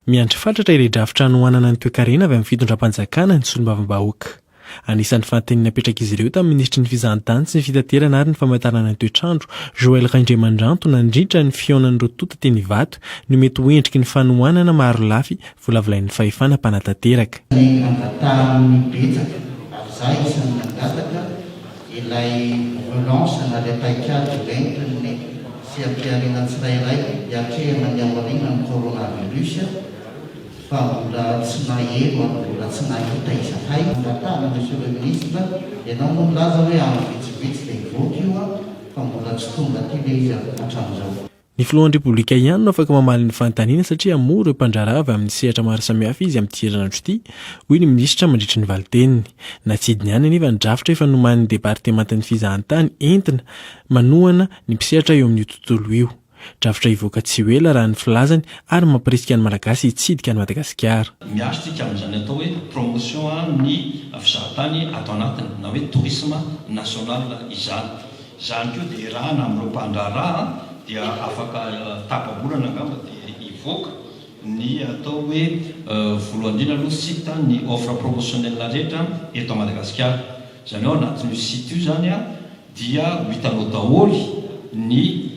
Miandry fatratra ilay drafitra hanohanana ny toekarena avy amin'ny fitondram-panjakana ny solombavambahoaka. Anisan'ny fahateny napetrak'izy ireo tamin'ny minisitry ny Fizahantany sy ny Fitaterana ary ny Famatarana ny Toetrandro, Joël Raindriamandranto nandritra ny fihaonan'ireo tonta teny Ivato ny mety ho endriky ny fanohanana marolafy volavolain'ny fahefana mpanatanteraka. Ny nangatahan'ny betsaka, ary za isan'ny nangataka, ilay relance na ilay paikady hoentin'ny sy ampiharina tsirairay hiatrehana ny aorianan'ny coronavirus fa mbola tsy naheno ary mbola tsy nahita izahay. Angatahana Monsieur le Ministre, ianao moa nilaza hoe andro vitsivitsy dia hivoaka io fa mbola tsy tonga aty ve izy hatramin'izao. Ny filohan'ny Repoblika ihany no afaka mamaly ny fanontaniana satria hamoa ireo mpandraharaha avy amin'ny sehatra maro samihafa izy amin'ity herinandro ity, hoy ny minisitra mandritra ny valin-teniny. Natsidiny ihany anefa ny drafitra efa nomanin'ny departemantan'ny fizahantany entina manohana ny mpisehatra eo amin'io tontolo io. Drafitra hivoaka tsy ho ela raha ny filazany ary mampirisika ny Malagasy hitsidika an'i Madagasikara. Miaro isika amin'izany atao hoe promotion ny fizahantany ato anatiny na hoe tourisme national izany. Izany koa dia irahana amin'ireo mpandraharaha dia afaka tapa-bolana angamba dia hivoaka ny atao hoe voalohany indrindra aloha site ny offre promotionnelle rehetra eto Madagasikara. Izany hoe ao anatin'io site io izany dia ho hitanao daholo ny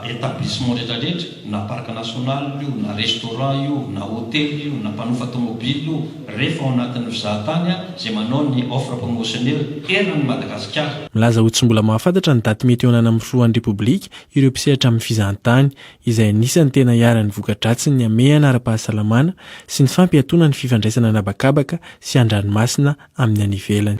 établissements rehetrarehetra na parc national io na restaurant io na hotely io na mpanofa tomobile io, rehefa ao anatin'ny mpizahatany izay manao ny offre promotionnelle eran'i Madagasikara. Milaza ho tsy mbola mahafantatra ny daty mety hihaonana amin'ny Filohan'ny Repoblika ireo mpisehatra amin'ny fizahantany, izay anisan'ny tena iharan'ny voka-dratsiny ny hamehana ara-pahasalamana sy ny fampiatoana ny fifandraisana an'habakabaka sy an-dranomasina amin'ny any ivelany.